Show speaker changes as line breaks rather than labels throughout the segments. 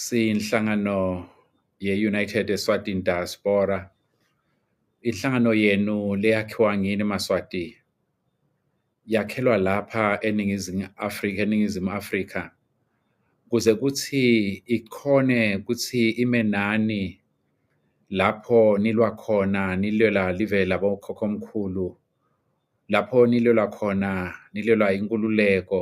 Siyinhlangano ye-United Eswatini Diaspora. Inhlangano yenu leyakhiwa ngini Maswati yakhelwa lapha eningizimu Afrika eningizimu Afrika kuze kuthi ikhone kuthi ime nani lapho nilwa khona nilwela live labokhokho omkhulu lapho nilwela khona nilwela inkululeko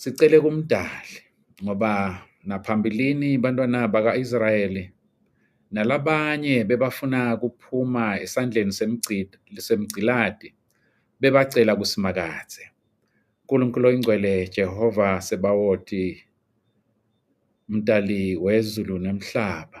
Sicele kumdali ngoba naphambilini bantwana baka-Israyeli nalabanye bebafuna kuphuma esandleni semgciladi bebacela kusimakadze. Nkulunkulu oyingcwele Jehova Sebawoti, mdali wezulu nemhlaba,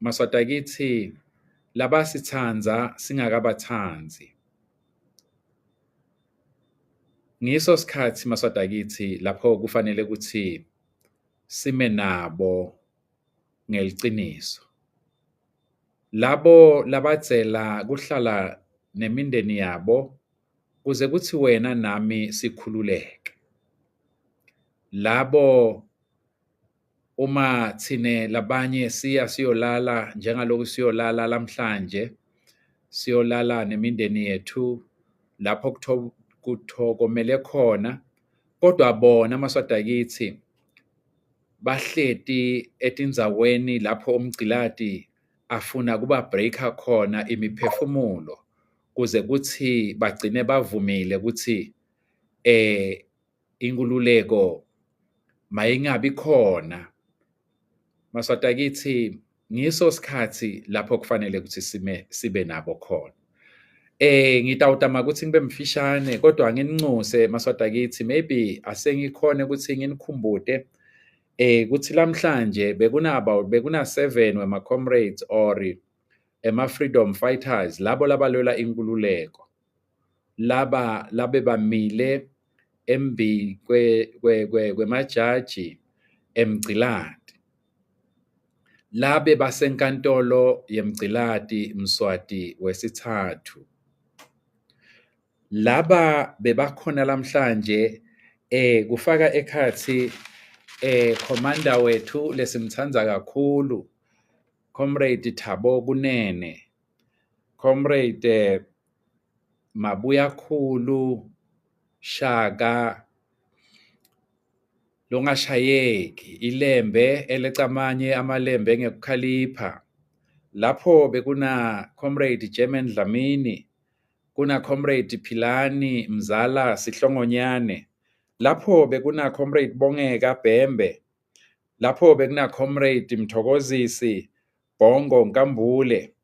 Maswati akithi laba sithanda singakabathandi ngiso sikhathi maswati akithi lapho kufanele ukuthi sime nabo ngeliqiniso labo labadzela kuhlala nemindeni yabo kuze kuthi wena nami sikhululeke labo uma thine labanye siya siyolala njengalokhu siyolala lamhlanje siyolala nemindeni yethu lapho kuthokomele khona kodwa bona amaswada kithi bahleti etinzaweni lapho umgciladi afuna kuba breaker khona imiphefumulo kuze kuthi bagcine bavumile ukuthi eh inkululeko mayingabi khona maswati akithi ngiso sikhathi lapho kufanele ukuthi sime sibe nabo khona eh ngitawutama ukuthi ngibe mfishane kodwa ngininxuse maswati akithi maybe asengikhona ukuthi nginikhumbude eh kuthi lamhlanje bekuna about bekuna 7 wema comrades or ema freedom fighters labo labalwela inkululeko laba labe bamile embi kwemajaji emgciladi labe basenkantolo yemgciladi mswati wesithathu laba bebakhona lamhlanje eh kufaka ekhathi eh commander wethu lesimthanda kakhulu comrade Thabo Kunene Comrade Mabuya Khulu Shaka longashayeki ilembe elecamanye amalembe ngekukhalipha lapho bekuna comrade German Dlamini kuna comrade Philani Mzala Sihlongonyane lapho bekuna comrade Bongeka Bhembe lapho bekuna comrade Mthokozisi Bhongo Nkambule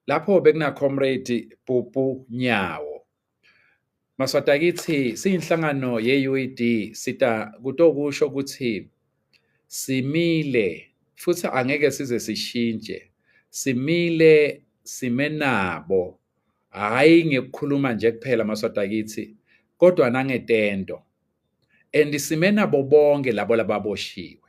lapho bekuna comrade Pupu Nyawo Maswata kithi siyinhlangano ye-UED sita kutokusho ukuthi simile futhi angeke size sishintshe simile sime nabo hhayi ngekukhuluma nje kuphela maswata kithi kodwa nangetendo and sime nabo bonke labo lababoshiwe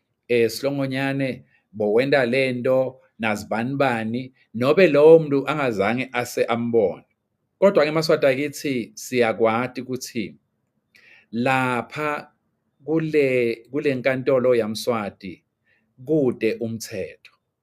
eh Slongonyane bowenda lento nazibani bani nobe lowo muntu angazange ase ambone kodwa ke maswati akithi siyakwati ukuthi lapha kule kulenkantolo yamswati kude umthetho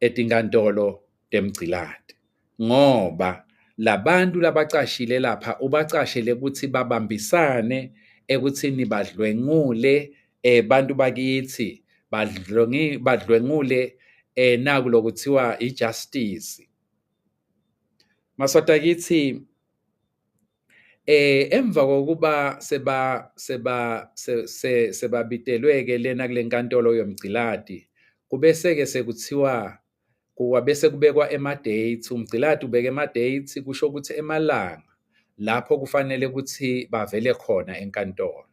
etinkantolo temgciladi ngoba labantu labacashile lapha ubacashele ukuthi babambisane ekuthini badlwengule eh bantu bakithi badlwengi badlwengule eh naku lokuthiwa ijustice masota kithi Eh emva kokuba seba seba sebabitelweke lena kulenkantolo yomgciladi kubese ke sekuthiwa kuwa bese kubekwa ema dates umgciladi ubeke ema dates kusho ukuthi emalanga lapho kufanele ukuthi bavele khona enkantolo.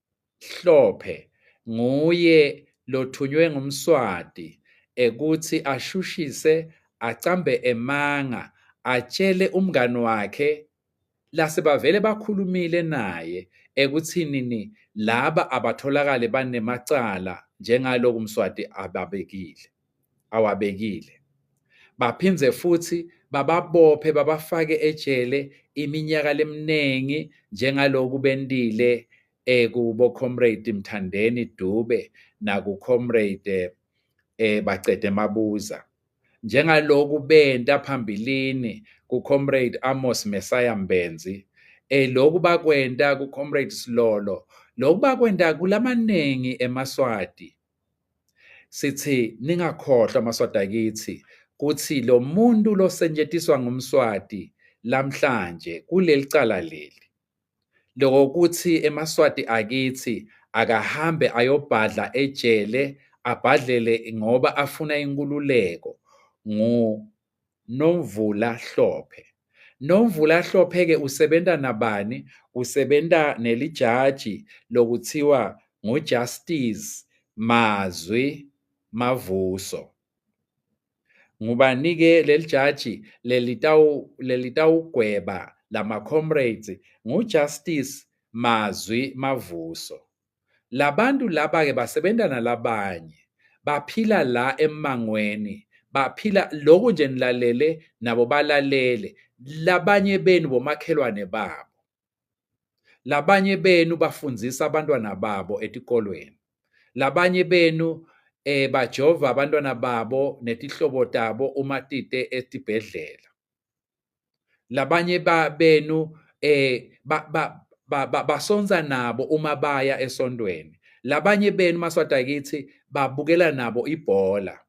Hlophe nguye lothunywe ngumswati ekuthi ashushise acambe emanga atshele umngani wakhe lase bavele bakhulumile naye ekuthinini laba abatholakale banemacala njengaloku mswati ababekile awabekile baphinde futhi bababophe babafake ejele iminyaka leminingi njengaloku bendile ekubo eh, comrade Mthandeni Dube naku comrade eh, eh bacede mabuza njengaloku benta phambilini ku comrade Amos Messiah Mbenzi eh lokhu bakwenta ku comrade Silolo lokhu bakwenta kulamaningi emaswati sithi ningakhohlwa maswati akithi kuthi lo muntu losentshetiswa ngumswati lamhlanje kuleli cala leli lokuthi emaswati akithi akahambe ayobhadla ejele abhadlele ngoba afuna inkululeko ngu Nomvula Hlophe. Nomvula Hlophe-ke usebenza nabani? Usebenza nelijaji lokuthiwa nguJustice Mazwi Mavuso. Ngubani-ke leli jaji lelitawugweba lama-comrades? NguJustice Mazwi Mavuso. labantu laba ke basebenza nalabanye baphila la emangweni baphila lokhu nje nilalele nabo balalele labanye benu bomakhelwane babo labanye benu bafundisa abantwana babo etikolweni labanye benu eh bajova abantwana babo netihlobo tabo uma tite esibhedlela labanye ba benu eh ba, ba, ba, ba, basonsa nabo uma baya esontweni labanye benu maswada kithi babukela nabo ibhola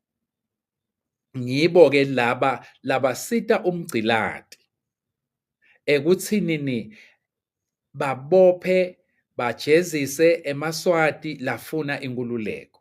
ngibo ke laba labasita umgcilati ekuthinini babophe bajezise emaswati lafuna inkululeko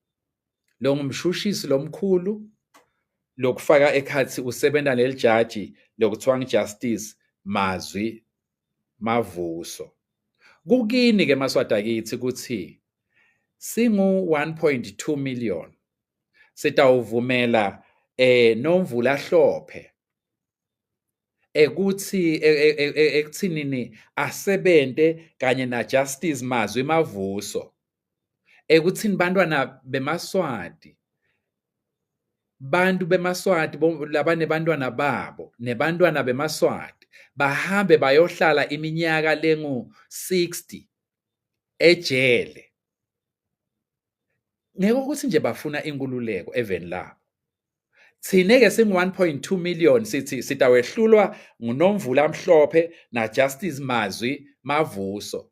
lo ngumshushisi lomkhulu lokufaka ekhathi usebenza leli jaji lokuthiwa ngijustice mazwi mavuso kukini ke maswada kithi ukuthi singu 1.2 million sitawuvumela eh nomvula hlophe ekuthi e, e, e, ekuthinini asebenze kanye na justice mazwi mavuso ekuthini bantwana bemaswati bantu bemaswati labane bantwana babo nebantwana bemaswati bahambe bayohlala iminyaka lengu 60 ejele ngeke ukuthi nje bafuna inkululeko eveni labo thine ke singu 1.2 million sithi sitawehlulwa ngunomvula mhlophe na justice mazwi mavuso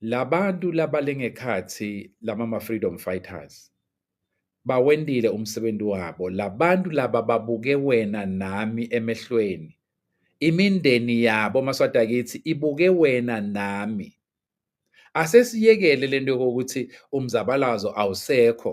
Labantu labalengekhathi lama ma freedom fighters bawendile umsebenzi wabo labantu laba babuke wena nami emehlweni imindeni yabo maswati akithi ibuke wena nami asesiyekele lento yokuthi umzabalazo awusekho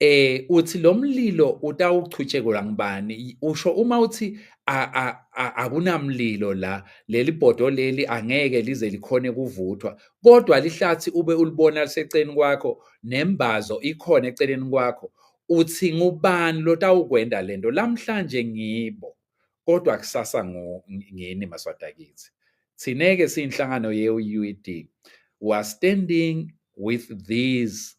eh uthi lo mlilo utawuchutshekelwa ngubani usho uma uthi akunamlilo la leli bhodo leli angeke lize likhone kuvuthwa kodwa lihlathi ube ulibona liseceleni kwakho nembazo ikhona eceleni kwakho uthi ngubani lotawukwenda lento lamhlanje ngibo kodwa kusasa ngini maswadakithi thineke siyinhlangano ye-UED we are standing with these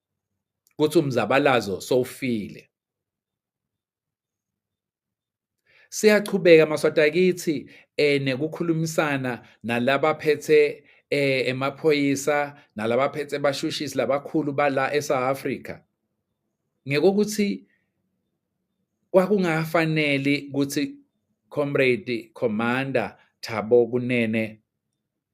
ukuthi umzabalazo sowufile siyachubeka maswati akithi eh nekukhulumisana nalaba phethe eh emaphoyisa nalaba phethe bashushisi labakhulu bala eSouth Africa ngekokuthi kwakungafanele ukuthi comrade commander Thabo Kunene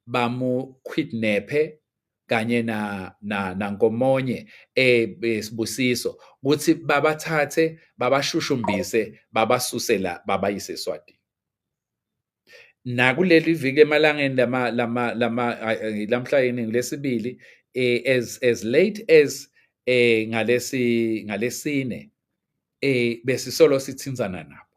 bamu kidnappe kanye na na nankomonye eh, eh sibusiso ukuthi babathathe babashushumbise babasuse la babayise eSwatini nakuleli viki emalangeni lama lama lama lamhla yini lesibili eh, as as late as eh ngalesi ngalesine eh besisolo sithinzana nabo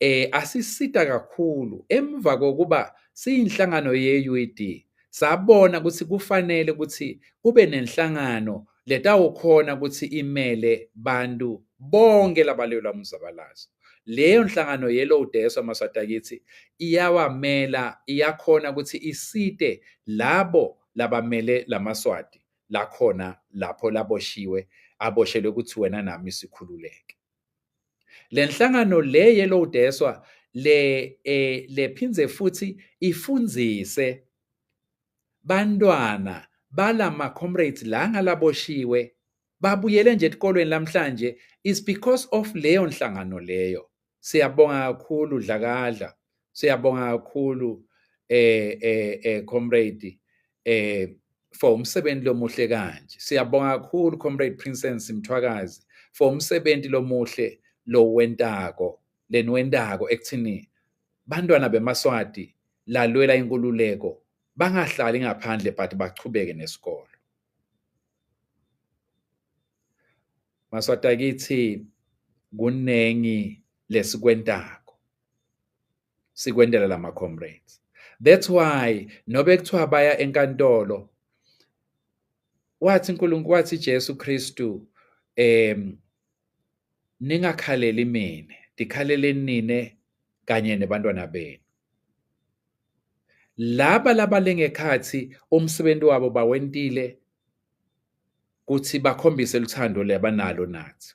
eh asisita kakhulu emva kokuba siyinhlangano ye-UED sabona ukuthi kufanele ukuthi kube nenhlangano letawukhona ukuthi imele bantu bonke labalelwa umzabalazo leyo nhlangano ye-low deso maswatakithi iyawamela iyakhona ukuthi isite labo labamele lamaswati lakhona lapho laboshiwe aboshelwe ukuthi wena nami sikhululeke Le nhlangano le Yellow Deswa le eh, lephindze futhi ifundise bantwana balama comrades la ngalaboshiwe babuyele nje etikolweni namhlanje is because of leyo nhlangano leyo siyabonga kakhulu dlakadla siyabonga kakhulu eh eh eh comrade eh for umsebenzi lomuhle kanje siyabonga kakhulu comrade princess mthwakazi for umsebenzi lomuhle lo wentako leniwentako ekuthini bantwana bemaswati lalwela inkululeko bangahlali ngaphandle but bachubeke nesikolo maswati akithi kuningi lesikwentako sikwentela lama comrades that's why nobe kuthiwa baya enkantolo wathi uNkulunkulu wathi Jesu Kristu em ningakhaleli mina ndikhaleleni nine kanye nebantwana benu laba labalengekhathi umsebenzi wabo bawentile kuthi bakhombise luthando lebanalo nathi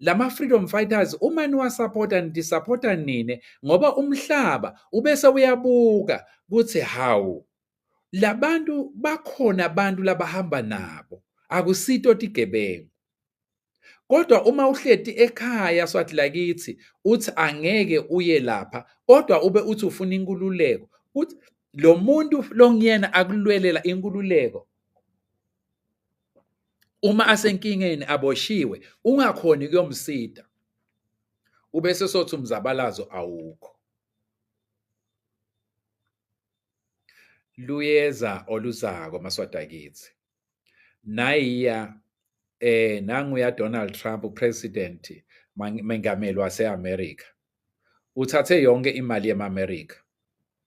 lama freedom fighters uma niwasapota nidisapota nini ngoba umhlaba ubese uyabuka kuthi hawu labantu bakhona abantu labahamba nabo akusito tigebengu kodwa uma uhleti ekhaya swathi lakithi uthi angeke uye lapha kodwa ube uthi ufuna inkululeko uthi lo muntu longiyena akulwelela inkululeko uma asenkingeni aboshiwe ungakhoni kuyomsida ubese sothi umzabalazo awukho luyeza oluzako maswada kithi nayiya eh nanguya Donald Trump upresident mengameli waseAmerica uthathe yonke imali yemaAmerica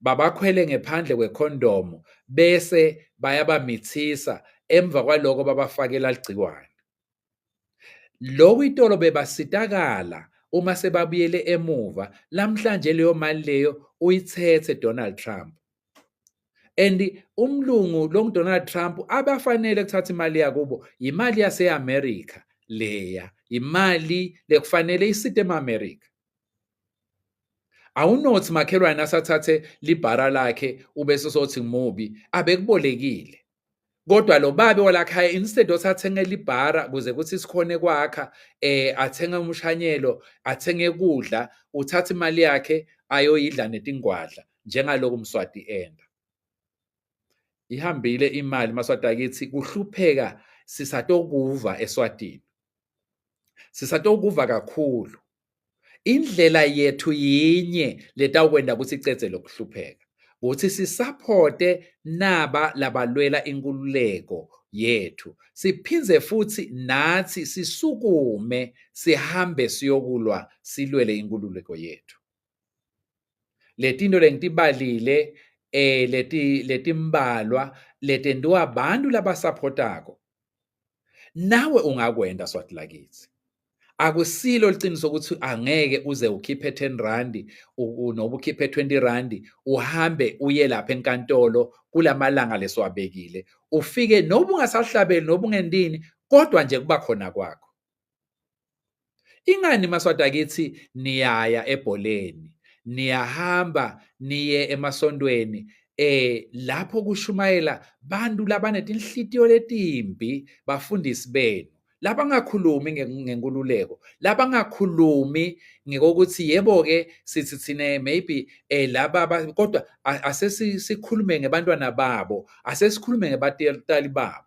babakhwele ngephandle kwekhondomu bese bayabamithisa emva kwaloko babafakela ligciwane lokhu itolo bebasitakala uma sebabuyele emuva lamhlanje leyo mali leyo uyithethe Donald Trump and umlungu lo Donald Trump abafanele kuthatha imali yakubo imali yaseAmerica leya imali lekufanele isite eAmerica awunothi makhelwane asathathe libhara lakhe ubese sothi mubi abekubolekile kodwa lo babe walakhaya instead othi athengele ibhara kuze kuthi sikhone kwakha eh athenge umshanyelo athenge kudla uthatha imali yakhe ayoyidla netingwadla njengaloku mswati enda ihambile imali maswati akithi kuhlupheka sisatokuva eswatini sisatokuva kakhulu indlela yethu yinye letawukwenta kutsi icedze lokuhlupheka kutsi sisaphote naba labalwela inkululeko yethu siphindze futhi nathi sisukume sihambe siyokulwa silwele inkululeko yethu letinto lengitibalile eh leti letimbalwa letentiwa abantu labasupportako nawe ungakwenta swati lakithi akusilo liqiniso ukuthi angeke uze ukhiphe 10 rand noba ukhiphe 20 rand uhambe uye lapha enkantolo kulamalanga lesiwabekile ufike noba ungasahlabeli noba ungendini kodwa nje kuba khona kwakho Ingani maswati akithi niyaya ebholeni, niyahamba niye emasontweni eh lapho kushumayela bantu labanetinhlitiyo letimbi bafundisi benu labangakhulumi ngenkululeko labangakhulumi ngokuthi yebo ke sithi thina maybe eh laba kodwa asesikhulume ngebantwana babo asesikhulume ngebatali babo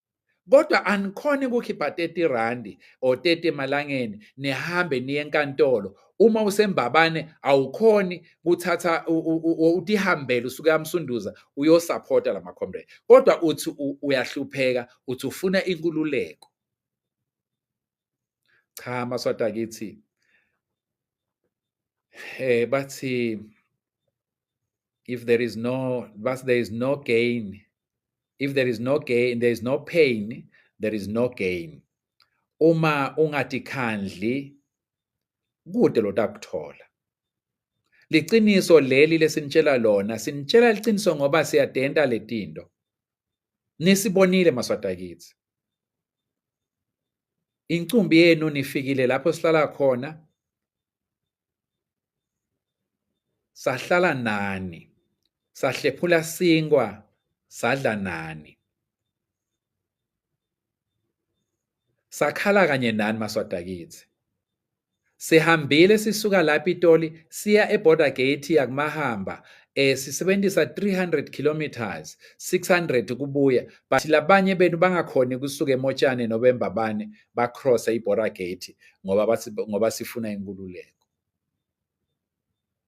kodwa anikhona ukukhipha 30 randi or 30 emalangeni nihambe niye enkantolo uma usembabane awukhoni kuthatha utihambele usuke amsunduza uyosupporta lama comrade kodwa uthi uyahlupheka uthi ufuna inkululeko cha amaswati akithi eh bathi if there is no but there is no gain if there is no gain there is no pain there is no gain uma ungatikhandli kude lotakuthola liqiniso leli lesinitshela lona sinitshela liqiniso ngoba siyadenta letinto nisibonile maswati akithi incumbi yenu nifikile lapho sihlala khona sahlala nani sahlephula sinkwa sadla nani Sakhala kanye nani maswadakithi. Sihambile sisuka la Pitoli siya eBorder Gate yakuMahamba eh sisebenzisa 300 kilometers 600 kubuya but labanye benu bangakhoni kusuka emotshane nobembabane ba cross iBorder Gate ngoba ngoba sifuna inkululeko.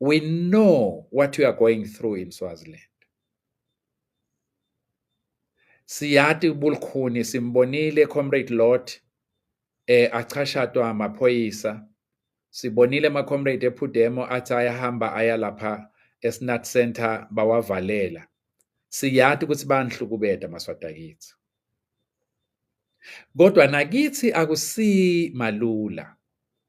we know what you are going through in Swaziland. Siyati ubulkhuni simbonile comrade Lot eh achashatwa amaphoyisa sibonile ama comrade ephudemo athi ayahamba aya lapha eSnat Center bawavalela siyati ukuthi banhlukubeda maswata kithi kodwa nakithi akusi malula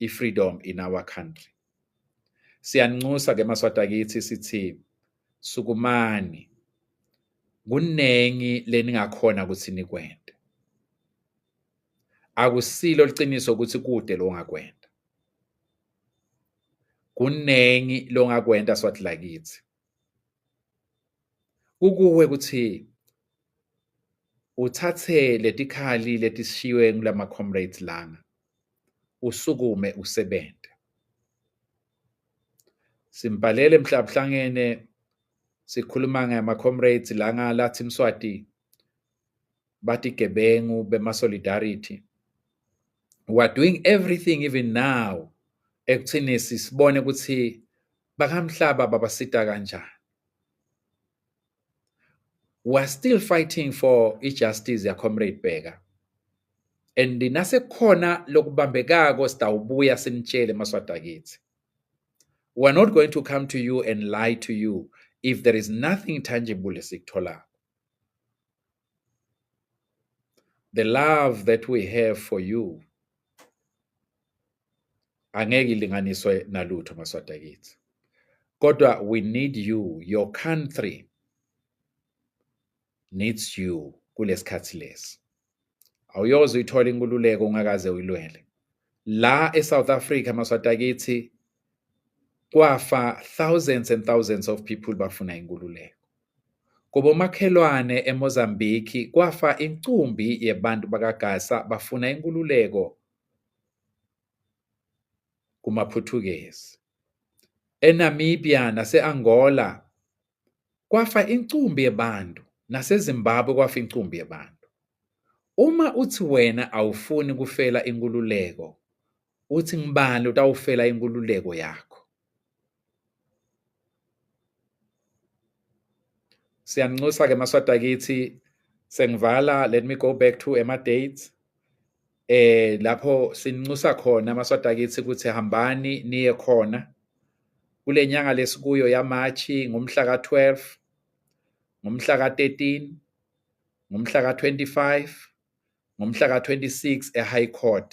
i-freedom in our country. Siyanxusa ke maswata kithi sithi sukumani kuningi leningakhona ukuthi nikwente akusilo liqiniso ukuthi kude lo ngakwenta kuningi longakwenta swathi lakithi kukuwe ukuthi uthathe letikhali letisishiywe kulama comrades lana usukume usebenze simbhalele mhlabuhlangene sikhuluma ngama comrades langa lathi Mswati bathi gebengu bema-solidarity we're doing everything even now ekuthini sisibone ukuthi bakamhlaba babasita kanjani we're still fighting for i-justice yacomrade bheka and nasekukhona lokubambekako sitawubuya sinitshele maswada kithi we're not going to come to you and lie to you if there is nothing tangible esikutholako the love that we have for you angeke ilinganiswe nalutho maswada kithi kodwa we need you your country needs you kulesikhathi lesi awuyoze uyithola inkululeko ungakaze uyilwele la eSouth Africa maswatakithi kwafa thousands and thousands of people bafuna inkululeko kubomakhelwane eMozambique kwafa inkumbi yebantu bakaGasa bafuna inkululeko kumaPhuthukezi eNamibia naseAngola kwafa incumbi yebantu naseZimbabwe kwafa incumbi yebantu uma uthi wena awufuni kufela inkululeko uthi ngibani utawufela inkululeko yakho siyanxusa ke maswata kithi sengivala let me go back to ema dates eh lapho sinxusa khona amaswati akithi ukuthi hambani niye khona kule nyanga lesikuyo yaMachi ngomhla ka-12 ngomhla ka-13 ngomhla ka-25 ngomhla ka-26 e-high court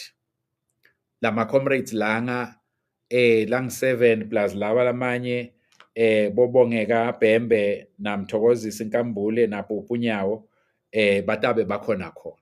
lama-comrades langa eh lang-7 plus lawa lamanye eh bobongeka Bhembe namthokozisa inkambule napupunyawo eh batabe bakhona khona